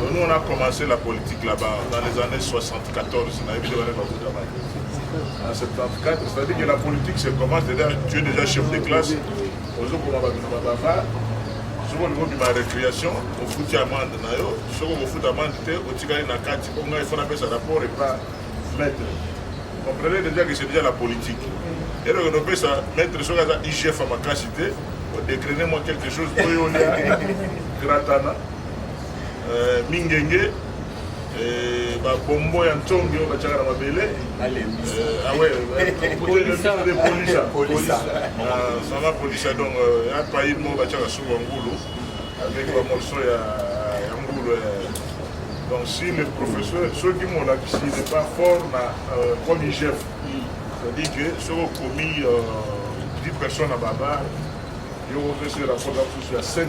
Donc nous on a commencé la politique là-bas dans les années 74, on a eu la En 74, c'est-à-dire que la politique c'est comment c'est-à-dire tu es déjà chef de classe, aux autres on va soki olingi obima récréation ofuti amande na yo soki okofuta amande te otikali na kati mpo ngai fo napesa rapport epa maître comprenez déjà que c'est déjà la politique eloko nopesa maître soki aza igf ya makasi te odecrene mwa quelque chose oyo olia gratana euh, mingenge euh, babombo ya ntongi oyo batyaka na mabele sanga polisa donc ya pail moko batyaka suku ya ngulu avec bamorso ya ngulu donc si le professeur soki molakisi n'est pas fort na euh, comme igf c'est-à-dire que soki okomi 10 personnes na babar yo opesi rapport na mosusu ya 5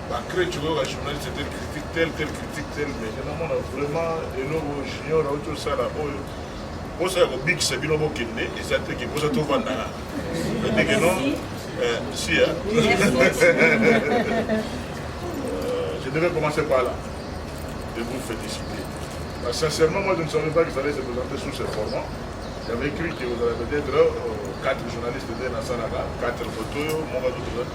Ba crèche oyo ba journaliste tel critique tel tel critique tel mais je namona vraiment eloko junior auti osala oyo posa ya kobikisa bino bokende eza te ke posa tovandaka ndeke non eh, si ya euh, je devais commencer par là de vous féliciter Parce que sincèrement moi je ne savais pas que ça allait se présenter sous ce format j'avais cru que vous avez peut-être euh, quatre journalistes de Nassanaga quatre photos mon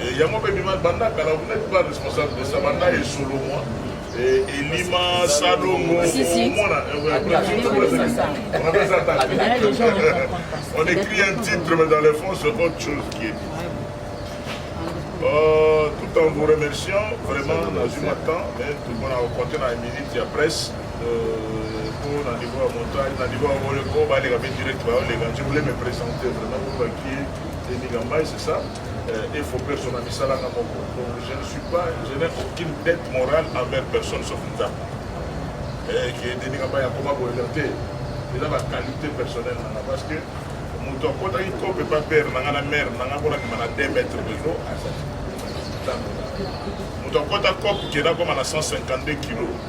Eh, yango mpe bima banda kala vous n'êtes pas responsable de ça banda esolo mwa eh, elima salongo omona on écrit un titre mais dans le fond c'est autre chose qui est euh, tout en vous remerciant vraiment nazwi mwa temps mais tokomona kokonte na minute ya presse mpo euh, na niveau ya montage na niveau ya boleko baleka mpe direct baoleka je voulais me présenter vraiment pour bakie emigambai c'est ça euh, et faut personne à misala na moko donc je ne suis pas je n'ai aucune dette morale envers personne sauf nzambe eh, qui est deni kamba ya koma boyela te eza ba qualité personnelle nanga parce que moto akotaki kope pa pere nanga na mare nanga mpona kima na 2 mètre bezo moto akota cope kenda koma na 152 kilo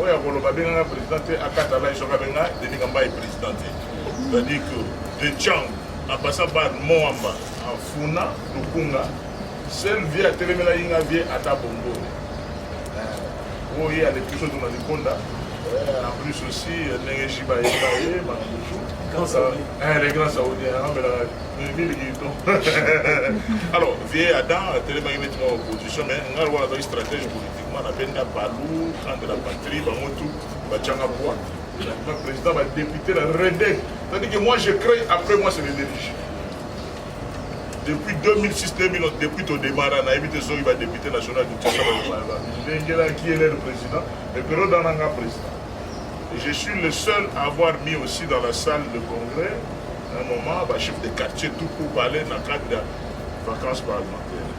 oyo akoloba abengaka président te akata lai soki abenga denis kambayi président te c'est-à-dire que de chang apasa bar moamba afuna lukunga sel vie atelemela yinga vie ata bongo oyo ye aleki biso tuna likonda en plus aussi ndenge shiba yeba ye makambo le grand saoudien amelaka miliki to alors vie adam atelemaki neti mwa opposition mais ngai lokola azali stratège politique mwana benda balu grande la patrie bango tu batianga bwa na président badepute na rede tandis que moi je crée après moi c'est le dirige depuis 2006 2011 depuis todemara nayebi te soki badepute national dutingalengelaki elere président mais periode wana nga président et je suis le seul à avoir mis aussi dans la salle de congrès un moment bachef de quartier tout pour parler na cadre ya vacances parlementaire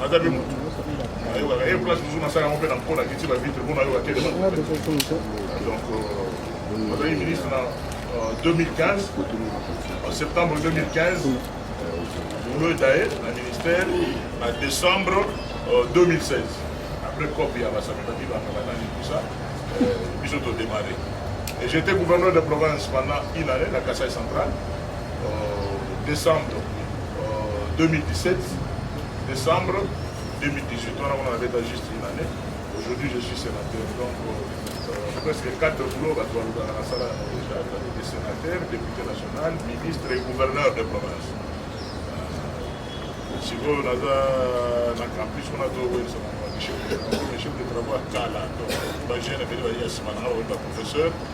naza mpe motu ayokaka ye place mosusu nasala yango mpe na mpona kiti bavitre mpo nayoka te donc azalaki ministre na 2015 en septembre 2015 bolo etaye na ministère na décembre 2016 après cop ya basamibaki bangabanani tout ça biso todémarre et j'étais gouverneur de province pendant une année na kasai central décembre 2017 décembre 2018 wana kuna nabeta juste une année aujourd'hui je suis sénateur donc euh, presque quatre boulot bato balobaka nasala yango déjà ezali de sénateur député national ministre et gouverneur de province sikoyo naza na campus kuna towelisa bango bachef de travaux ya kala donc bagene ebele baye ya nsima na nga bakomi baprofesseur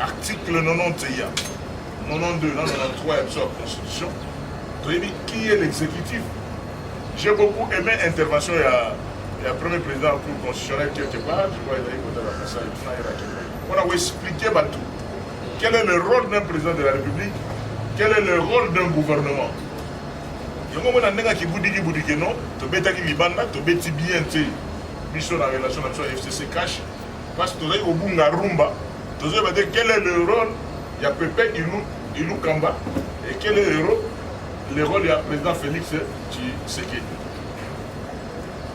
article 90 eya 92 na 93 ya biso ya constitution toyebi qui est l'exécutif j'ai beaucoup aimé intervention ya ya premier président ya cour constitutionnel quelque part je crois ezali kotala kasai tuna yelaki mpona koexplike bato quel est le rôle d'un président de la république quel est le rôle d'un gouvernement yango mona ndenge akibudiki budiki no tobetaki libanda tobeti bien te biso na relation na biso ya fcc cash Parce que tozali kobunga rumba, tozoyeba te quel est le rôle ya Pepe Ilu, Ilu Kamba et quel est le rôle, le rôle ya président Félix Tshisekedi.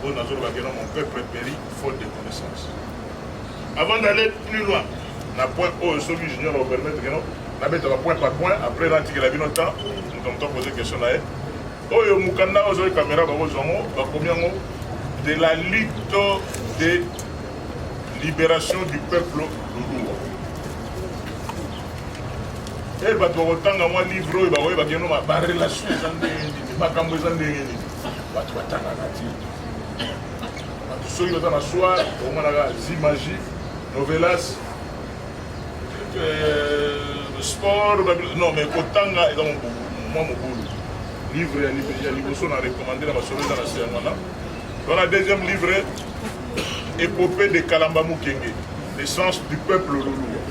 Oyo nazoloba kena mon peuple périt faute de connaissance. Avant d'aller plus loin, na point oyo soki junior opermettre keno nabetaka point par point après natikela bino temps moto moto apoze question na ye Oyo mukanda oyo zoe kamera bakozwa yango bakomi yango de la lutte de liberation du peuple lulua e eh, bato bakotanga mwa livre oyo bakoye bakeno barelation eza ndenge nini makambo eza ndenge nini bato batangaka ti bato soki baza na soir omonaka zimagie novelas Euh, sport non mais kotanga eza mwa mobulu livre ya liboso na recommande na masolo eza na se yango wana wana deuxième livre epopée de kalamba mokenge naissance du peuple lolua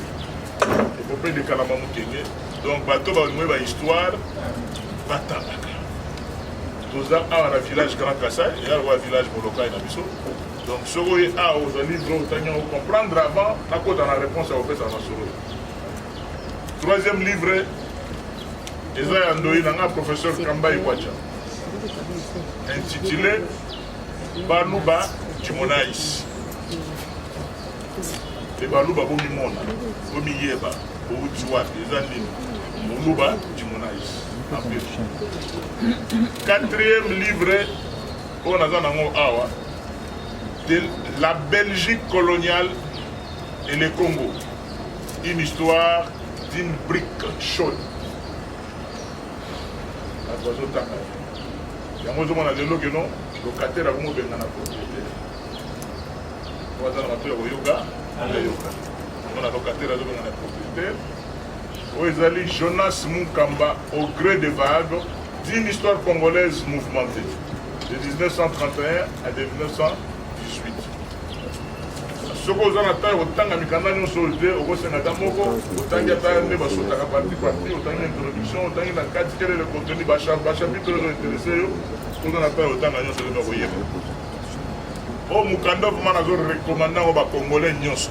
epopée de kalamba mokenge donc bato balingi bahistoire batangaka toza awa na village grand kasai eya lokola village molokai na biso Donc soki oye awa ozali vrai otangi yango comprendre avant nakota na réponse ya kopesa masolo troisième livre eza ya ndoyi na nga professeur kamba ikwacha intitulé baluba timonais te baluba bomimona bomiyeba bowuti wapi eza nini moluba timonais quatrième livre oyo naza nango awa de la belgique coloniale et le congo une histoire d'une brique chaude bato bazotanga yango ozomona lelo keno lokatele akomi obengana propriété po aza na bato ya koyoka ayoka omona lokatele azobengana propriétaire oyo ezali jonas munkamba au gré de vague D'une histoire congolaise mouvementée de 1931 à 1918. soki oza na ntango kotanga mikanda nyonso oyo te okosenga ata moko otangi ata nde basotaka parti parti otangi introduction otangi na kati kele le contenu bachapitre oyo interese yo oza na ntango kotanga nyonso te bakoyeba oyo mokanda vraimen nazo recommande yango bacongolais nyonso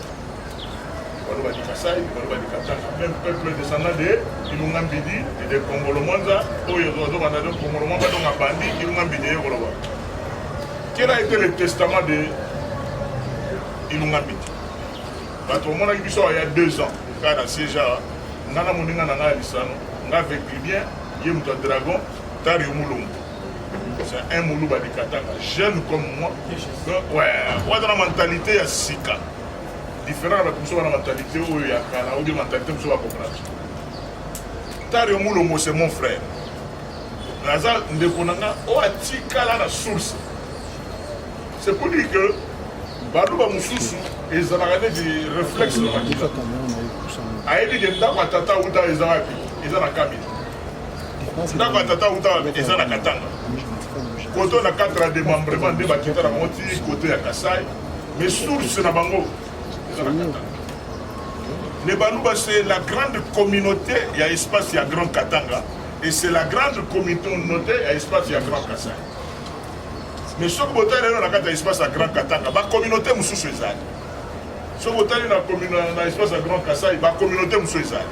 baloba di kasai baloba di katanga même peuple descendant de ilunga mbidi de kongolo mwanza oyo ezozobanda de kongolo mwanza donc abandi ilunga mbidi eye koloba quel a été le testament de ilunga mbidi bato omonaki biso ya deux ans kaka na sieja nga na moninga na ngai ya lisano nga avec libien ye moto ya dragon tari omulongo C'est un muluba de Katanga, jeune comme moi. Donc, ouais, ouais, dans la mentalité ya sika. Différent avec nous, la mentalité où il y a kala, ou des mentalités où il y a comprendre. Tario Moulomo, c'est mon frère. Naza Ndekonanga, oh, atikala la source. C'est pour dire que baluba mosusu ezalaka neti réflexe na makila ayebi ke ndako ya tata uta eza wapi eza na kamina ndako ya tata uta eza na katanga koto na 4 ya demembrement nde bakita na bango ti kote ya kasai mais source na bango eza na katanga les baluba c'est la grande communauté ya espace ya grand katanga et c'est la grande communauté ya espace ya grand kasai mais soki botali lelo na kati ya espace ya grand katanga bacommunauté mosusu ezali soki otali na espace ya grand kasai bacommunauté mosusu ezali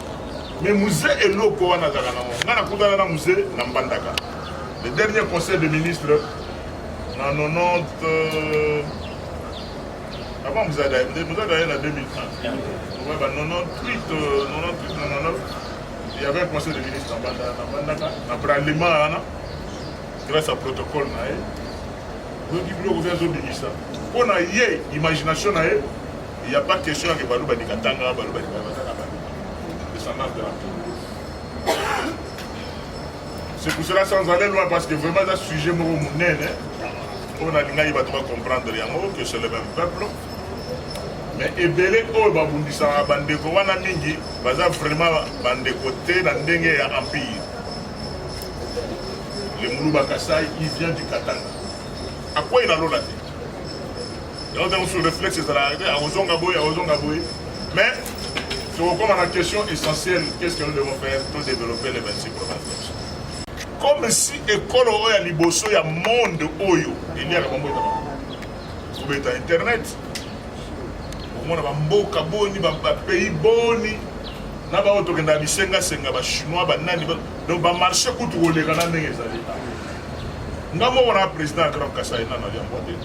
mais muze eloko wana azalaka nango ngai nakutana na muze na mbandaka le dernier conseil de ministre na 90 euh, avant muze adaye muze adaye na 2030 ouais, ba 98 euh, 98 99 il y avait un conseil de ministre na mbandaka na bralema wana grâce à protocole na ye oyoki biloko oza ezobimisa mpo na ye imagination na ye Il n'y a pas question ya kebaluba ni katanga baluba ni baza na baluba descendance de la tour c'est pour cela sans aller loin parce que vraiment eza sujet moko monene oyo nalingaki bato bacomprendre yango que c'est le même peuple mais ebele oyo babundisaka bandeko wana mingi baza vraiment bandeko te na ndenge ya empire lemuluba kasai il vient du katanga akwei na lola te yango ntango sur réflexe ezalaka te akozonga boye akozonga boye mais tokokoma na question essentielle qu'est ce que nous devons faire to développer les 26 provinces comme si ekolo oyo ya liboso ya monde oyo eliaka bambota kobeta internet okomona bamboka boni bapays boni na bango tokendaka bisengasenga bachinois banani donc bamarché kutu koleka na ndenge ezali nga moko na président ya grand kasai nana liambo te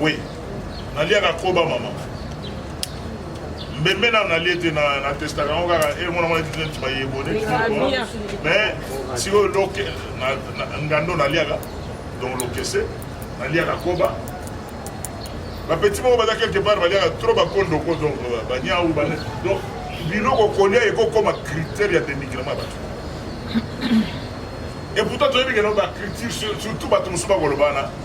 Oui. Naliaka koba mama. Mbembe na nalie te na na testaka yango kaka e mwana mwana tete ntima ye bone. Mais sikoyo loke ngando naliaka donc lokese naliaka koba bapeti moko baza quelque part baliaka trop bakondoko donc euh, baniau bane donc biloko kolia ekokoma critère ya demigrement ya bato et pourtant toyebi kena bacriture surtout bato mosusu bakoloba wana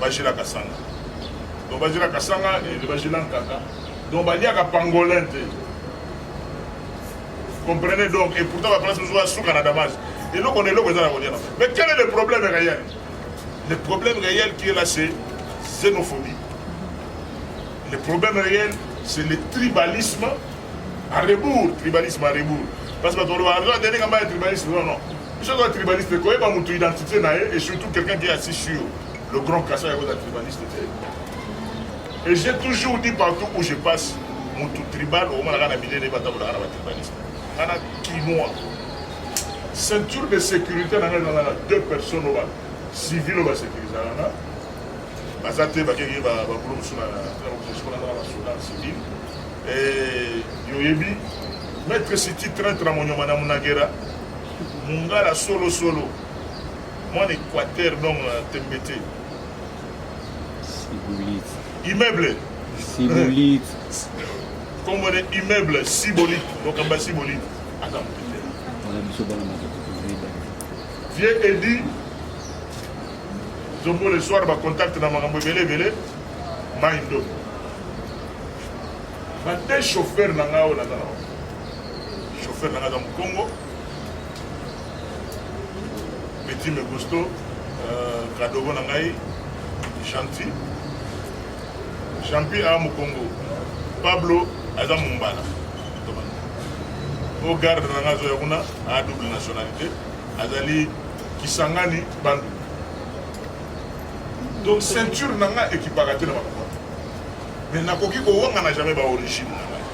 bajela kasanga donc bajela kasanga ele bajela nkaka donc baliaka pangolin te comprenez donc et pourtant baplace mosusu basuka na damage eloko na eloko eza na kolia na mais quel est le problème réel le problème réel qui est là c'est xénophobie le problème réel c'est le tribalisme à rebours tribalisme à rebours parce que bato baloba aza ndenge mbaye tribalisme non non Biso toza tribaliste koyeba moto identité na ye et surtout quelqu'un qui est assis sur le grand kasa ya koza tribaliste te. Et j'ai toujours dit partout où je passe moto tribal okomonaka na bilele batabolaka na batribaliste. Kana kinois. Ceinture de sécurité na ngai ezalaka deux personnes oyo civil oyo basecurisaka nga baza te bakeki babulo mosusu na basoda civil yoyebi maître siti traitre ya monyoma na munagera mungala solo solo mwana équateur donc euh, tembe te sibolite immeuble sibolite nkombo ne immeuble sibolite lokambo ya sibolite ata moke te wana biso bana makokokoyeba vieux edi zombo le soir bacontacte na makambo ebele ebele mai ndoki bade chauffeur na ngai oyo naza na chauffeur nanga aza mokongo petit megusto euh, kadogo na ngai gentil champi a mokongo pablo aza mombala o garde na ngai azoya kuna a double nationalité azali kisangani bandu donc ceinture na ngai ekipaka te na makambo mais nakoki kowangana jamais baorigine na ngai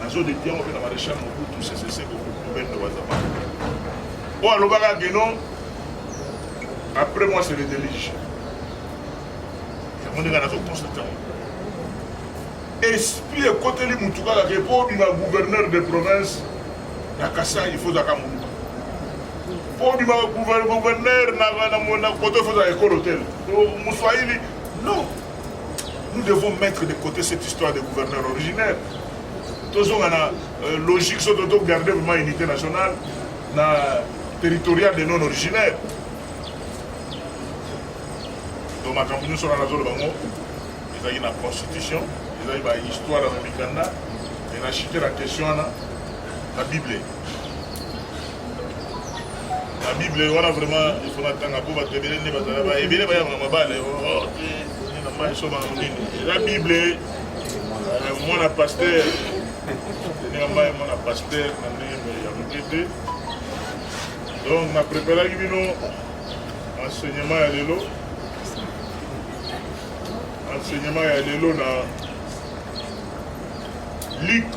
na zone de Diango mpe na Maréchal Mobutu Sese Seko Mobendo Wazama oyo alobaka que non après moi c'est le déluge yango ndenge nazo constater esprit ekoteli motu kaka ke mpo obima gouverneur de province na kasai il faut zaka moluka mpo obima gouverneur na koto il faut zaka ekolo tele moswahili non nous devons mettre de côté cette histoire de gouverneur originaire tozonga na euh, logique soki toto garde vraiment unité nationale na territorial de non originaire donc makambo nyonso wana nazoloba yango ezalaki na constitution ezalaki bahistware na mikanda e na chite na question wana na bible na bible wana vraiment ifo natanga mpo bato ebele nde bazala ba ebele bayangaka mabale na mai soma monene eza bible mwana paster ndenge mai mwana paster na ndenge ya moke te donc na preparaki bino enseignement ya lelo enseignement ya lelo na luke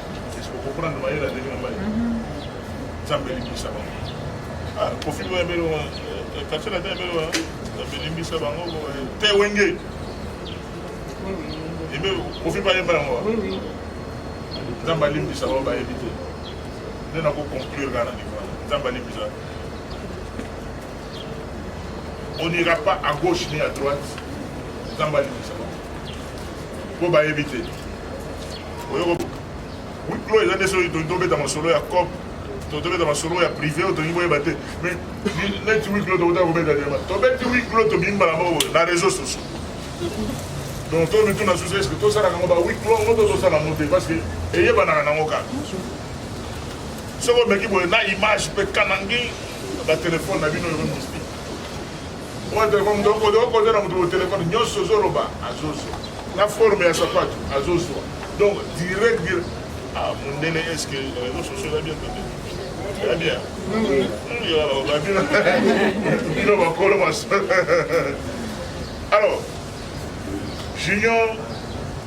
nzambe alimbisa bango bayebi te nde nakoconclure kaka na niveau wana nzambe alimbisa on n'ira pas à gauche ni à droite nzambe alimbisa bango mpo bayebi te wiklo eza nde soki tobeta masolo ya cop tobeta masolo ya privé oyo tolingi boyeba te mais neti wiklo tokota kobeta te tobeti wiklo tobimi mbala moko na réseau sociaux donc to mituna susu eske tosalaka yango ba wiklo ngo to tosala yango te parce que eyebanaka nango kaka soki omeki boye na image mpe kanangi batelefone na bino eko Mwa telefone moto okode okode na moto telefone nyonso ozoloba azozwa na forme ya sapatu azozwa donc direct dire ah mondele est ce que réseau sociaux eza bien tote eza bien bino bakolo maso alors junior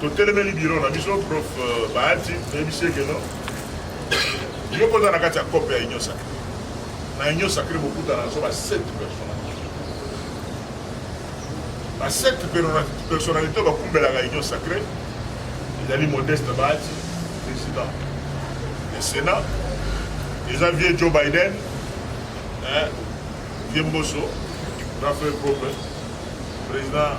totelemeli biro na biso prof euh, bahati toyebisi ekeno yo kozala na kati ya cope ya union sacre Na union sacrée bokutana na so ba sept personnalités. Ba sept personnalités bakumbelaka union sacrée ezali Modeste Bahati, président du Sénat, eza vieux Joe Biden, hein, vieux Mboso, grand frère propre, président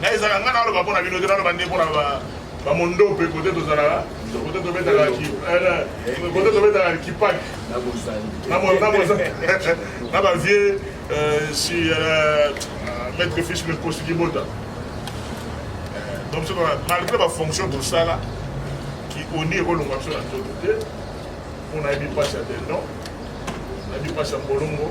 na ezaka nga naloba mpo na bino te naloba nde mpo na bamondope kote tozalaka kote tobetaka kote tobetaka kipaki na bavie si maître fiche le kosi kibota donc biso malgré bafonction tosala ki oni ekolonga biso na nzoto te mpo nayebi mpasi ya tendon nayebi mpasi ya mbolongo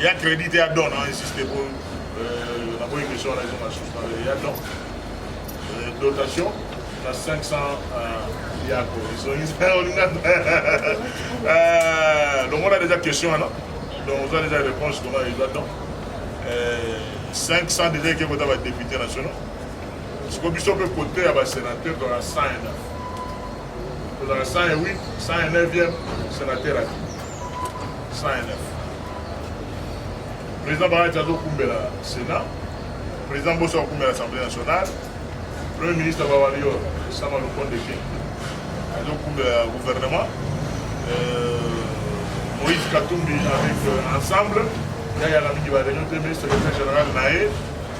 ya credit ya don na insiste po euh, naboyi question na ezo na suspendre ya don euh, dotation na 500 euh, yako olinga longola deja question wana donc oza deja réponse longola deja don 500 deja eke kota badepute nationaux siko biso mpe kote ya basénateur tozala 109 tozala 108 109e sénateur ati Président Barati azokumbela Sénat, président Boso akumbela Assemblée nationale, premier ministre Bawalior Sama Lukonde King azokumbela gouvernement, euh, Moïse Katumbi avec euh, ensemble yayaka mingi bareunion te mais secrétaire général na ye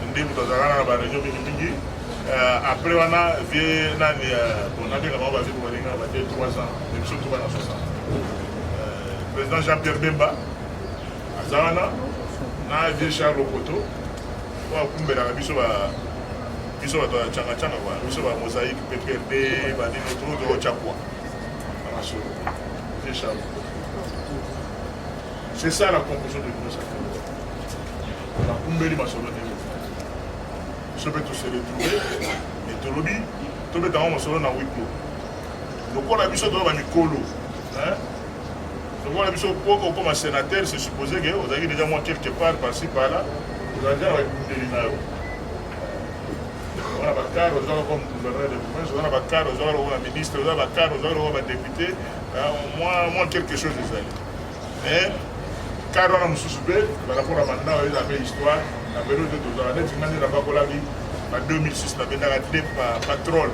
nde moto azalaka na bareunion mingimingi euh, après wana vie nani euh, bon nabengaka bango bavie bobalinga bate 3 ans Président Jean-Pierre Bemba, Azana, na vieux Charles Okoto, oyo akumbelaka biso ba biso bato ya changachanga kwa biso ba mosaïque pprd banino too toochakwa na masolo vieux Charles Okoto. C'est ça la conclusion de l'Union sacrée. Nakumbeli masolo ndenge biso mpe tose retrouve etolobi tobetango masolo na wiklo lokola biso toza ba mikolo lokola biso po okoma sénateur se suppose ke ozalaki déjà mwa quelque part parci parla ozala déjà na baekundeli na yo wana bakare ozalaka comme gouverneur de province oza na bakare ozalaka lokola ministre oza bakare ozalaka lokola badepute mwa quelque chose ezali Eh, kar wana mosusu mpe balakola bandao eza mpe histoire na belo te tozala neti nga nde nabakolaki na 2006 nabendaka te patrole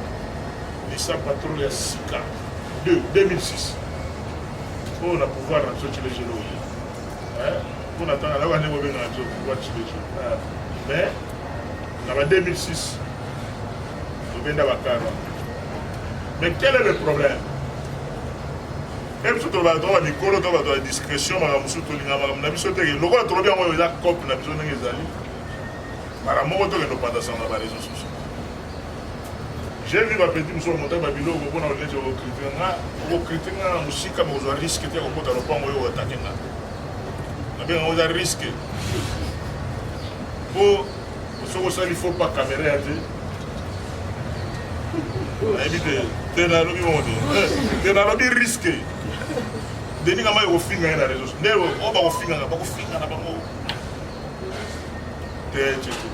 lisa patrole ya sika 2006 oyo na pouvoir na biso cilejelo oye mpo na tanga nayoka ndenge obengaka biso pouvoir cilejelo eh, mais na ba 2006 tobenda bakar wana mais quel est le problème mpe biso tolobaka to bamikolo to bato ya discrétion makambo mosusu tolinga makambo na biso teke lokola tolobi yango eza cope na biso ndenge ezali makambo moko tokende opandasana na bareseau sociaux j'ai vu bapeti mosusu bamontaki babiloko mpona oleti okokritike nga okokritike nga na mosika bokozwa riske te kokota lopango oyo otake nga nabenga yango eza riske mpo soki osali fo pa kamera ya te nayebi te te nalobi bongo te eh, te nalobi riske denis kama ekofinga ye na réseau nde oyo oh, bakofingaka bakofinga na bango te cece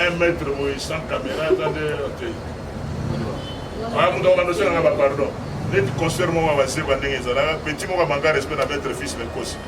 un mètre boye sans caméra eza nde te aa moto akobanda osengaka bapardon neti concert moko ya baseba ndenge ezalaka petit moko amanga respect na mètre fils lekosi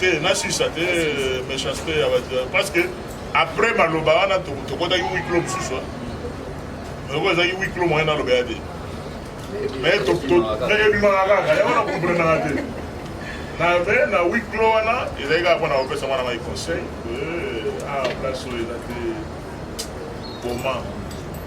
te nasuisa te euh, méchanceté ya bato euh, parce que après maloba wana tokotaki wiklo mosusu oko ezalaki wiklo moyen naloba ya te mais ebimaka kaka yango nakomprenaka te na me na wiklo wana ezali kaka mpona kopesa mwana mai conseil euh, a ah, place oyo eza te boma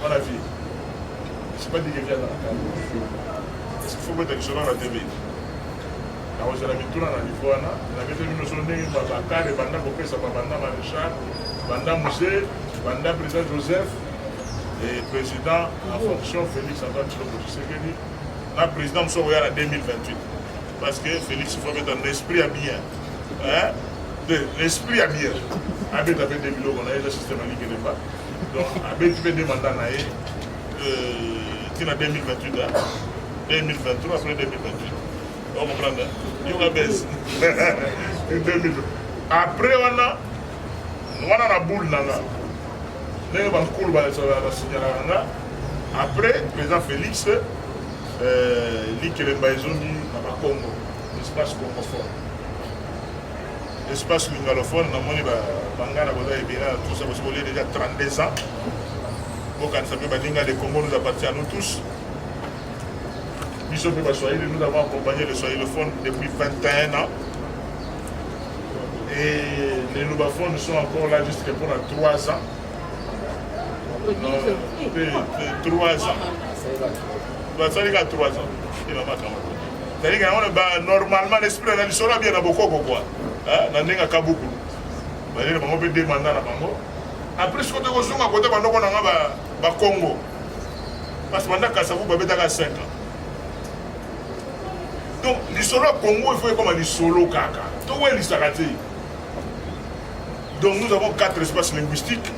Mwana vie. Je sais pas dire que viens dans la carte. Est-ce qu'il faut mettre quelque chose dans la TV? nakozala mituna na nivo wana nabete bino so ndenge bakare banda kopesama banda maréchal banda muse banda président joseph et président en fonction félix antoine tshilombo tshisekedi na président mosusu akoya na 2028 parce que félix faut mettre na esprit ya bien hein? Nde l'esprit ya bien abeta mpe nde biloko na ye eza système alike ne pas donc abeti mpe nde mandat na ye ntina 2028 2023 après 2028 okomprendre yoka bese 2000 après wana wana na boule na nga ndenge bankulu basignalaka nga après président félix euh, likelemba ezongi na bakongo espace concophone espace lingalophone namoni bangana boza ebele na tous parce que olie déjà 32 ans bokanisa mpe baninga le congo nous appartient à nous tous biso mpe baswahili nous avons accompagné le swahilophone depuis 21 ans et les lubaphones sont encore là jusque pour la 3 ans non, 3 ans basalika 3 ans et maman kamata cest à yango ba normalement l'esprit na lisolo bien na bokoko quoi hein na ndenge kabuku ba lele bango pe demanda na bango après ce côté kozunga côté ba ndoko na nga ba ba Congo parce que banda kasa vous ba betaka 5 ans donc lisolo Congo il faut ekoma lisolo kaka to welisaka te donc nous avons quatre espaces linguistiques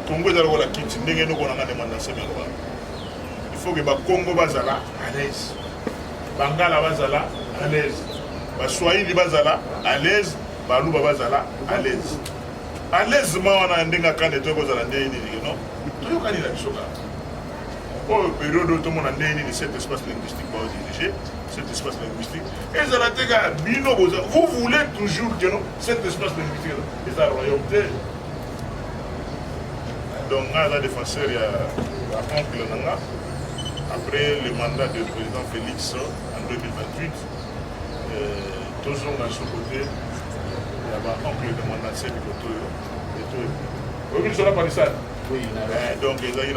Congo ezali kola kiti ndenge noko na nga demanda na sebe il faut que ba Congo bazala à l'aise bangala bazala à l'aise baswahili bazala à l'aise baluba bazala à l'aise à l'aise ma wana ya ndenge akande toyoko ozala ndenge nini no toyokani na biso kaka oyo periode oyo tomona ndenge nini cet espace linguistique baodirige cet espace linguistique ezala te kaka bino boza vous voulez toujours que no cet espace linguistique eza royaume te donc nga aza défenseur ya oncle na nga après le mandat de président félix en 2028 euh, tozonga so côté ya baoncle de mon ancien bikoto oyo etoyo oyebi lisola parisane eh, donc ezalaki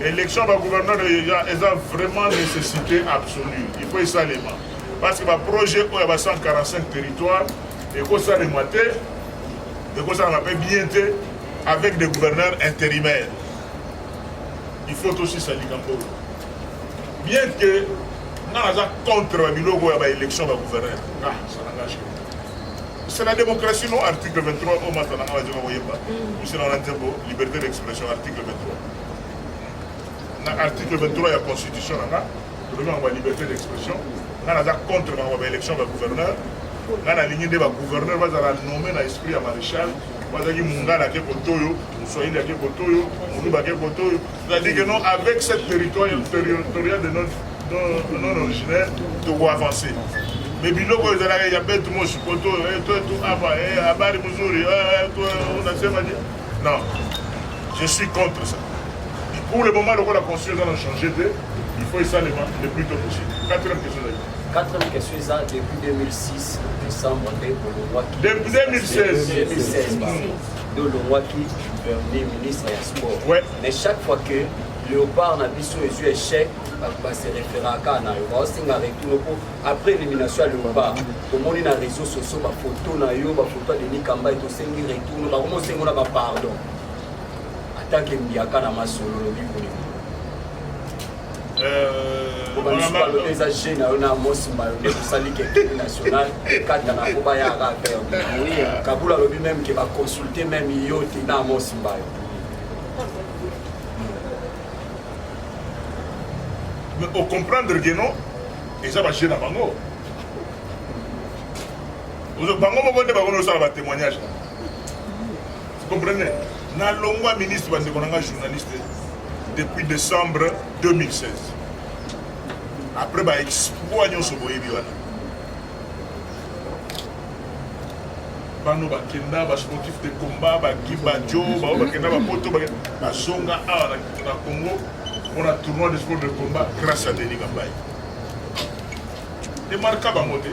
naélection bagouverneur eza vraiment nécessité absolue il faut esalema parce que baprojet oyo ya ba 145 territoire ekosalema te ekosalama mpe bien te avec des gouverneurs intérimaires il faut tosisa likambo oyo bien que nga naza contre babiloko ya baélection bagouverneur nga sanangage c'est la démocratie non article 23 oyo masta nanga bazoka koyemba misina wana nzembo liberté d'expression article 23 na article 23 ya constitution nanga tolobi makambo ya liberté d'expression ngai naza contre makambo ba élection ba gouverneur ngai nalingi nde ba gouverneur bazala nommé na esprit ya maréchal bazalaki mungala ake kotoyo moswahili ake kotoyo moluba ake kotoyo c'est-à-dire que non avec cette territoire territorial de notre non originaire toko avancer me biloko oyo ezalaka ya betu moshi koto eh, toetu apa eh, habari mzuri eh, unasema je non je suis contre ça pour le moment lokola constitution eza na change te Il faut esalema le plus tôt possible. Quatrième question ezali. Quatrième question eza depuis 2006 décembre nde olongwaki. Depuis 2016. 2016 pardon. Nde olongwaki premier ministre ya sport. Ouais. Mais chaque fois que léopard na biso ezwi échec bato base référaka na yo baosenga retour mpo après élimination ya léopard tomoni na réseau sociaux bafoto na yo bafoto ya denis kambai tosengi retour bakomi osengo na bapardon Atanke mbiaka na masolo lobi kolema. Euh, eza jeune na yo na mosi mbayo nde tosali kekele national kata na po bayaka aveugle ah kabula alobi meme ke baconsulte meme yo te na mosi mbayo mais ocomprendre ke non eza bajeune na bango bango moko nde bango nosala batémoignage Comprenez? Na longwa ministre ba ndeko nanga journaliste depuis décembre 2016. Après ba exploit nyoso boyebi wana. bano bakenda basportif de combat bakibajo bao bakenda bapoto bazonga awa na congo mpona tournoi de sport de combat grâce à denis kambai emarka bango te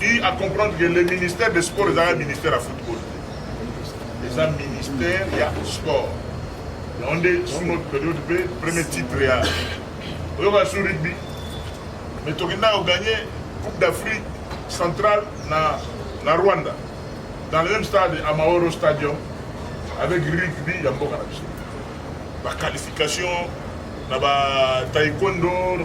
eu à comprendre que le ministère des sports ezalaka ministère ya football te eza ministère ya sport yango nde sous notre période mpe premier titre ya oyoka sous rugby mais tokenda koganye coupe d'afrique centrale na, na rwanda dans le même stade à maoro stadium avec rugby ya mboka na biso baqualification na bataekwondo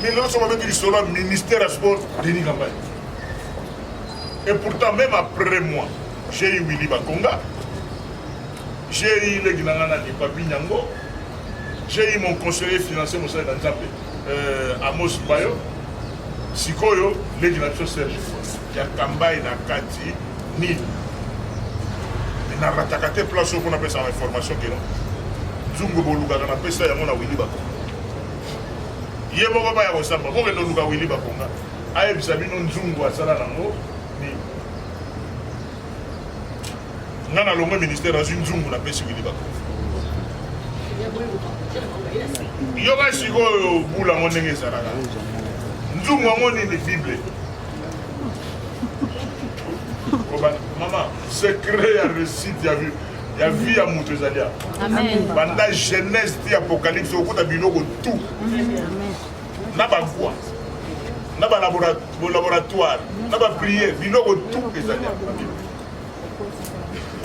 Mais lelo soki babeti lisolo ya ministère ya sport denis kambai et pourtant même après moi j'ai eu willy bakonga j'ai eu leki na ngai nani papi nyango j'ai eu mon conseiller financier mosali na nzambe euh, amos bayo sikoyo leki na biso serge ya kambai na kati nini narataka te place oyo mpo napesaka information kino nzungu bolukaka napesa yango na wili bakonga ye moko baya kosamba bokende oluka wili bakonga ayebisa bino nzungu asala nango nini nga na longwe ministère azwi nzungu napesi wili bakonga yoka sikoyo bula yango ndenge ezalaka nzungu yango nini bible mama secret ya réussite ya bible ya vie ya moto ezali ya banda genèse ti apocalypse okota biloko tout na bagwa na balaboratoire na bapriere biloko tout ezali ya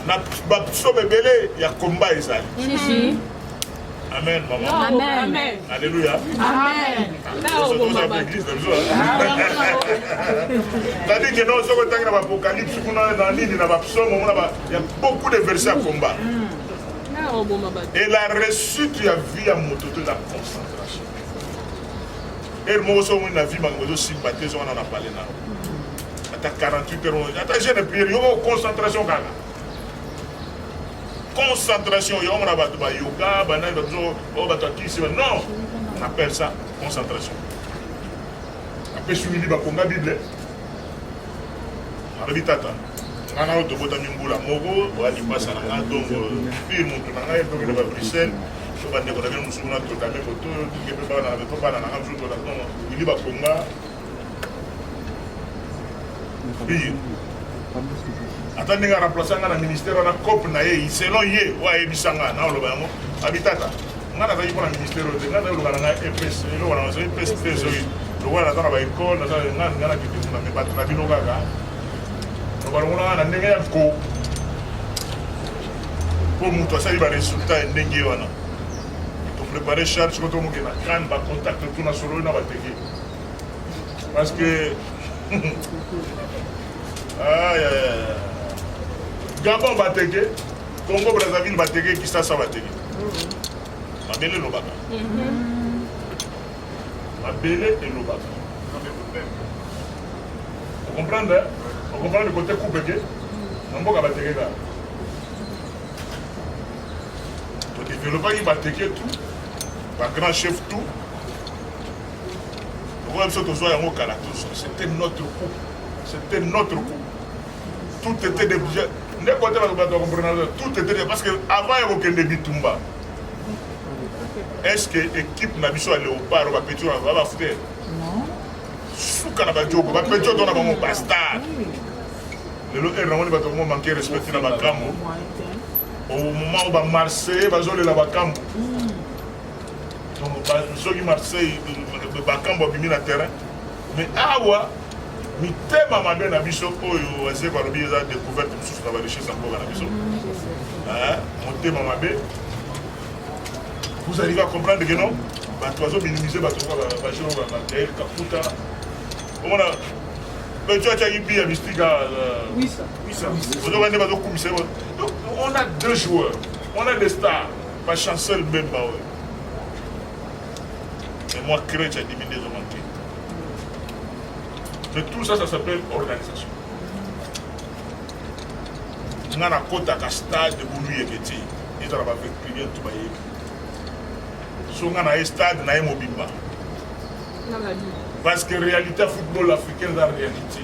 na bapsome ebele ya komba ezali Amen, maman. Amen. Amen. Alléluia. Amen. Tandis que non, ce que tu as dans l'Apocalypse, on a dans l'île, dans l'Absaume, on a Il y a beaucoup de versets à combat. Et la réussite ya vie ya moto to eza concentration. Ere moko soki omoni na vie makambo ezosimba te ezongana na pale na ata 48 heures ata jeune prière yoko concentration kaka concentration yango na bato bayoka banani bato oyo oh, bato akisi non on appelle ça concentration apesi wili bakonga bible alobi tata nga na yo tobotami mbula moko oya lipasa na nga donc pire motu na ngai tokende ba bruxelles so bandeko na bino mosusu na totame koto toke mpe bana mpe bana na nga mosusu totatono wili bakonga pire ata ndenge araplace nga na ministère wana cope na ye selon ye oyo ayebisa nga na oloba yango abitata ngai nazalaki mpo na ministère oyo te ngai nazali loka na ngai epes eloko na nazali epes te ezoki lokola naza na baekole naza ngai ngai nakende kuna me bato na bino kaka balongolaka na ndenge ya ko mpo moto asali baresultat ya ndenge wana toprépare charge ko tomoke na crane bacontact to na sololi na bateke parce que gabon bateke Congo Brazzaville bateke Kisasa bateke mabele elobaka mabele elobaka okomprendre okomprendre kote kubeke na mboka bateke kaka todevelopaki bateke tout bagrand chef tout lokola biso tozwa yango kala tozo c'était notre coup c'était notre coup tout était de bien ndeko te bato bato bakomprenaka tout était de parce que avant ya kokende bitumba est ce que équipe na biso ya léopard bapetio na babafuta suka na bajoko bapetio to na bango bastar lelo ere namoni bato bango manke respecte na makambo au moment oyo bamarseille bazolela bakambo donc soki marseille bakambo abimi na terrain Mais awa mitema mabe na biso oyo wazeko alobi eza découverte mosusu na barichesse ya mboka na biso motema mabe vous arrivez à comprendre que non bato bazominimize bato bajean gael kakuta omona oyo atyaki bi ya mystique ozoka nde bazokumisa ye donc on a deux joueurs on a des stars bachancel mbemba oyo Mais moi, créer, tu as diminué de manquer. Mais tout ça, ça s'appelle organisation. nga na kotaka stade bulu yeke te ezala bavecturier to bayebi so nga na ye stade na ye mobimba parce que réalité ya football africain eza réalité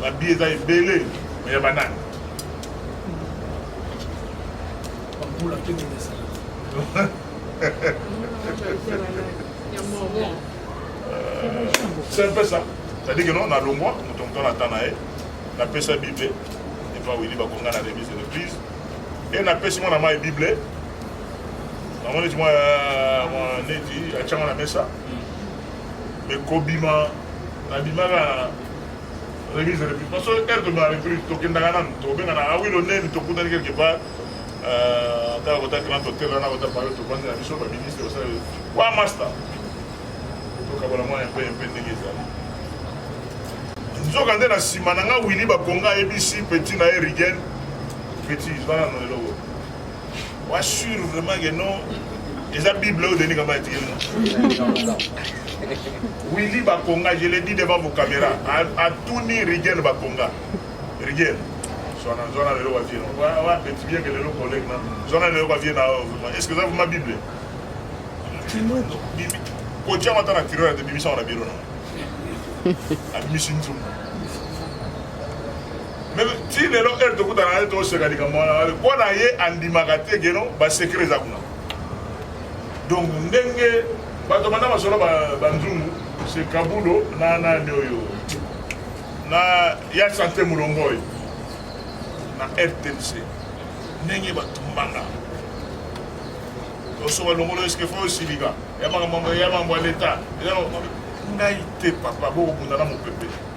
Ba billets eza ebele mais ya banani? Bakula te kobesa. C'est un peu ça. C'est-à-dire que non, na longwa, moto moto na tana ye, na pesa Bible, et pas Willy Bakonga na remise de l'église, et na pesi mwana mai Bible, na mwana ti mwana neti, achanga na mesa, mais kobima nabimaka remise ya reprise parce que heure tobima reprise tokendaka nanu tobengana awilo ah neni tokutani quelque part euh, kaka kota grand hotel wana kota payo tobandi na biso baministre basala wa master tokabola mwa mpe mpe ndenge ezali nzoka nde na nsima na nga wili bakonga ayebisi petit na ye rigen petit wana no eloko Wa sur vraiment que non eza bible oyo denis kaba atie willi bakonga je le dis devant vos caméra atuni rigel bakonga rigel zwana zwana lelo kwa vie wa petit bien que lelo collègue na zwana lelo kwa vie na est ce que eza ma bible kotia mata na tiroir te bimisa wana biro na abimisi nzungu ti lelo heure tokutana ye toseka likambo wana mpo na ye andimaka te geno basekre eza kuna donc ndenge bato banda masolo banzungu se kabulo na nani oyo na ya sante molongoi na rtnc ndenge batumbanga osoba longolo eske fo osilika ya makambo ya mambo ya leta ngai te papa bokobunda na mopepe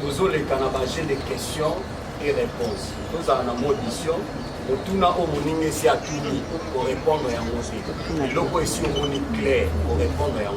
tozoleka na ba jeu de question et réponse tozala na modition otuna oyo moninga esi atuni korepondre yango te eloko esi omoni claire korepondre yango